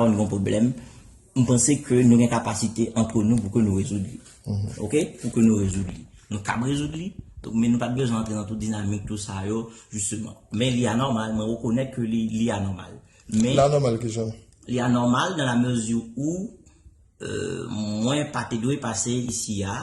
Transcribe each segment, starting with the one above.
yon problem, m panse ke nou gen kapasite antre nou pou ke nou rezoud li. Ok? Pou ke nou rezoud li. Nou kab rezoud li, men nou pat bezwen antre nan tout dinamik tout sa yo, jisteman. Men li anòmal, mwen rekonèt ke li anòmal. Li anòmal ki jan? Li anòmal nan la mezi ou, mwen pa te dwe pase isi a,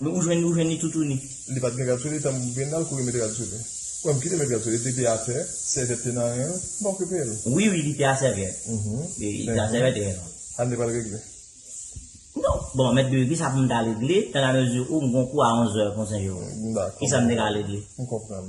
Ou jwenn li ou jwenn li toutouni. Li pat gen rad sou li tanm Brendal kouri met rad sou li Wèm kite met rad sou li li te atè sèvyèt te nan ren l m pa okipe l. Wi wi li te a sèvyèt li te a sèvyèt e ren l. Ann li pral regle. Non bon mèt Guy kisa poum ta regle tan a mezi ou m gon kou a 11 zè konsa yo kisa m te ka regle. M konprann.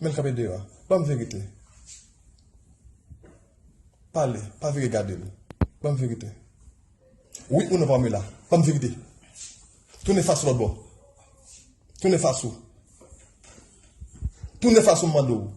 Menl kanpe deyò. Banm verite. Pale. Pa vire gadel. Banm verite. Wi ou non Pamela. Banm verite. Tounen fas ou lòtbò. Tounen fas ou. Tounen fas ou m mande ou.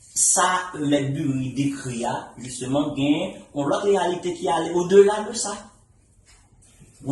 Sa Mèt Bury dekri a, jisteman, gen yon lòt reyalite ki ale odela de sa.